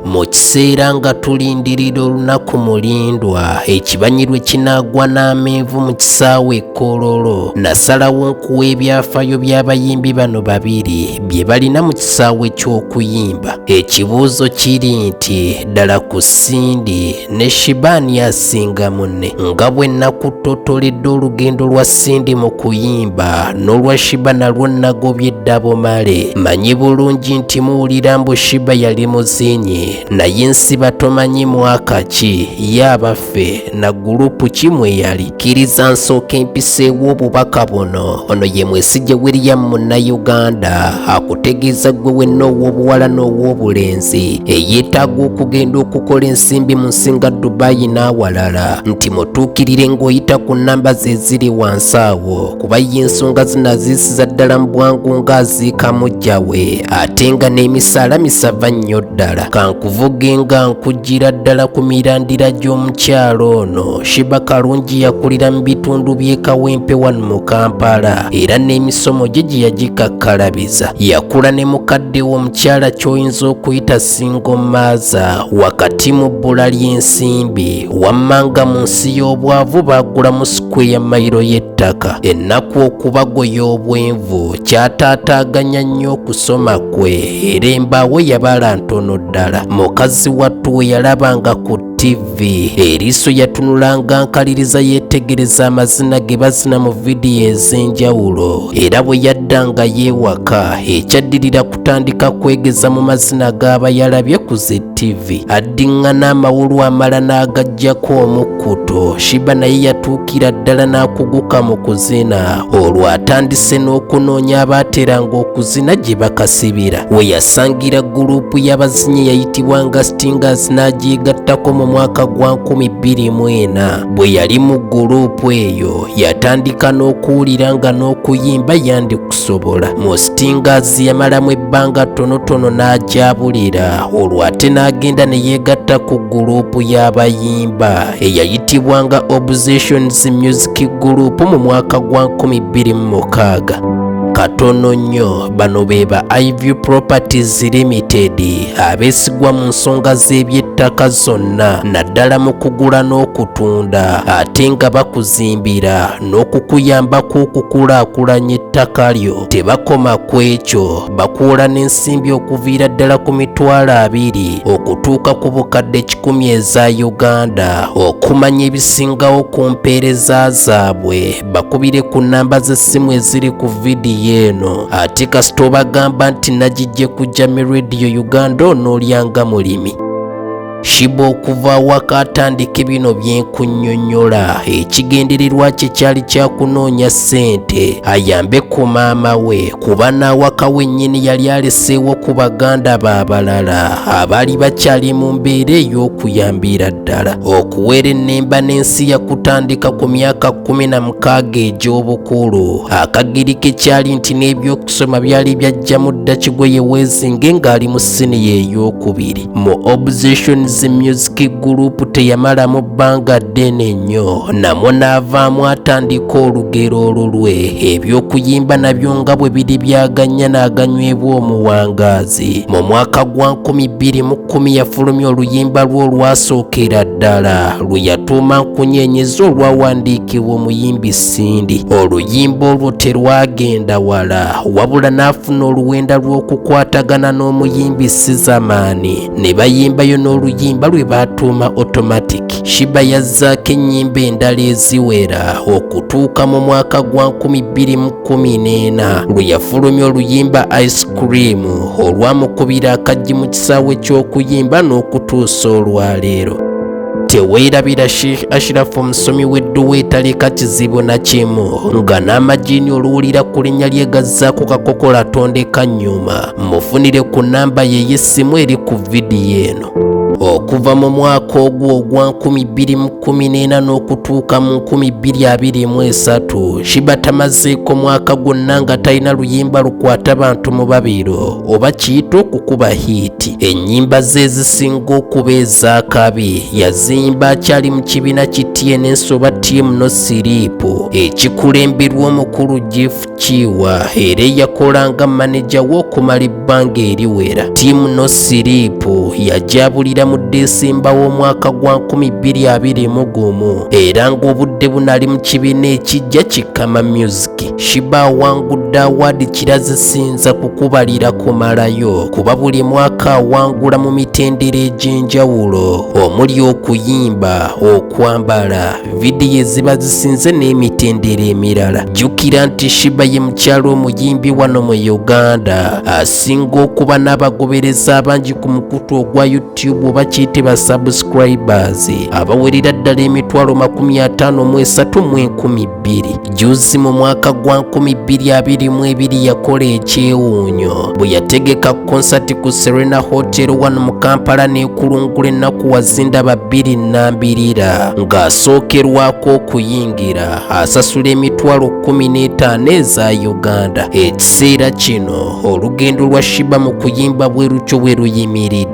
mu kiseera nga tulindirira olunaku mulindwa ekibanyi lwe kinaagwa n'amenvu mu kisaawe ekkololo nasalawo nkuwa ebyafayo by'abayimbi bano babiri bye balina mu kisaawe ky'okuyimba ekibuuzo kiri nti ddala ku sindi ne Shibani asinga munne nga bwe nakuttotoledde olugendo lwa Cindy mu kuyimba n'olwa Shiba nalwo nagobye eddabo male manyi bulungi nti muwulira mbu Shiba yali muzinyi naye nsiba tomanyi mwaka ki ye abaffe na gurupu ki mwe yali Kkiriza nsooka empiseewo obubaka buno. Ono ye Mwesigye William Munnayuganda akutegeeza ggwe wenna ow'obuwala n'ow'obulenzi eyeetaaga okugenda okukola ensimbi mu nsinga Dubai n'awalala nti mutuukirire ng'oyita ku nnamba ze ziri wansi awo kuba ye ensonga zino aziisiza ddala mu bwangu ng'aziika mujja we ate nga n'emisaala misava nnyo ddala kankuvuge nga nkujjira ddala ku mirandira gy'omukyalo ono. Shiba Kalungi yakulira mu bitundu by'e Kawempe wano mu Kampala era n'emisomo gye gye yagikakkalabiza. Yakula ne mukadde we omukyala ky'oyinza okuyita singo maaza wakati mu bbula ly'ensimbi wammanga mu nsi y'obwavu baagulamu sikweya mayiro y'ettaka. Ennaku okubagoya obwenvu kyataataaganya nnyo okusoma kwe era embaawo yabala ntono ddala. Mukazi wattu we yalabanga ku ttivi eriiso yatunulanga nkaliriza yeetegereza amazina ge bazina mu vidiyo ez'enjawulo era bwe yaddanga yeewaka ekyaddirira kutandika kwegeza mu mazina g'aba yalabye ku zi ttivi addiŋŋana amawulu amala n'agaggyako omukkuto shiba naye yatuukira ddala n'akuguka mu kuzina olwo atandise n'okunoonya abaateranga okuzina gye bakasibira we yasangira guluupu y'abazinyi yayitibwanga Tingers n'agyigattako mu mwaka gwa 2024 bwe yali mu guluupu eyo yatandika n'okuwulira nga n'okuyimba yandikusobola mu Stingers yamalamu ebbanga ttonotono n'agyabulira olwo ate n'agenda ne yeegatta ku guluupu y'abayimba eyayitibwanga Obsessions Music Group mu mwaka gwa 2006 katono nnyo bano be ba iv properties limited abeesigwa mu nsonga z'ebyettaka zonna naddala mu kugula n'okutunda ate nga bakuzimbira n'okukuyambako okukulaakulanya ettaka lyo tebakoma ku ekyo bakuula n'ensimbi okuviira ddala ku mitwalo abiri okutuuka ku bukadde kikumi eza uganda okumanya ebisingawo ku mpeereza zaabwe bakubire ku nnamba z'essimu eziri ku vidiyo eno ate kasita obagamba nti nagijje ku jami radio uganda onoolyanga mulimi shiba okuva awaka atandike bino byenkunyonyola ekigendererwa kye kyali kyakunoonya ssente ayambe ku maama we kuba n'awaka wennyini yali aleseewo ku baganda b'abalala abaali bakyali mu mbeera ey'okuyambira ddala okuwera ennemba n'ensi yakutandika ku myaka kkumi na mukaaga egy'obukulu akagiri ke kyali nti n'ebyokusoma byali byajjamu dda kigoye weezinge ng'ali mu siniya ey'okubiri mu obsessions music group teyamalamu bbanga ddene nnyo namwo n'avaamu atandika olugero olulwe eby'okuyimba nabyo nga bwe biri byaganya n'aganywebwa omuwangaazi mu mwaka gwa 2010 yafulumya oluyimba lwe olwasookera ddala lwe yatuuma nkunyeenyeza olwawandiikibwa omuyimbi sindi oluyimba olwo terwagenda wala wabula n'afuna oluwenda lw'okukwatagana n'omuyimbi sizamaani ne bayimbayo n'oluyimba lwe baatuuma automatic shiba yazzaako ennyimba endala eziwera okutuuka mu mwaka gwa 2014 lwe yafulumya oluyimba ice cream olwamukubira akajji mu kisaawe ky'okuyimba n'okutuusa olwaleero teweerabira sheikh ashirafu omusomi w'edduwa etaleka kizibu na kimu nga n'amajiini oluwulira ku linnya lye gazzaako kakokola tondeka nnyuma mufunire ku namba ye y'essimu eri ku vidiyo eno okuva mu mwaka ogwo ogwa 2014 n'okutuuka mu 2023 shiba tamazeeko mwaka gwonna nga talina luyimba lukwata bantu mu babiro oba kiyita okukuba hiiti ennyimba ze ezisinga okuba ez'akabi yaziyimba akyali mu kibiina ki tns oba tm no siriipu ekikulemberwa omukulu gift Kiwa era eyakola nga maneja w'okumala ebbanga eriwera ttiimu no siriipu yajabulira mu Desemba w'omwaka gwa 2021 era ng'obudde bunali mu kibiina ekijja kikama music shiba awangudde awaadi kirazisinza kukubalira kumalayo kuba buli mwaka awangula mu mitendera egy'enjawulo omuli okuyimba okwambala vidiyo eziba zisinze n'emitendera emirala jjukira nti shiba ye mukyalo omuyimbi wano mu uganda asinga okuba n'abagobereza abangi ku mukutu ogwa youtube oba kiyite ba subscribers abawerera ddala emitwalo makumi ataano mu esatu mu enkumi bbiri Jjuuzi mu mwaka gwa 2022 yakola ekyewuunyo bwe yategeka konsati ku Serena Hotel wano mu Kampala n'ekulungula ennaku wazindaba bbiri nnambirira ng'asookerwako okuyingira asasula emitwalo 15 eza Uganda. Ekiseera kino olugendo lwa Shiba mu kuyimba bwe lutyo bwe luyimiridde.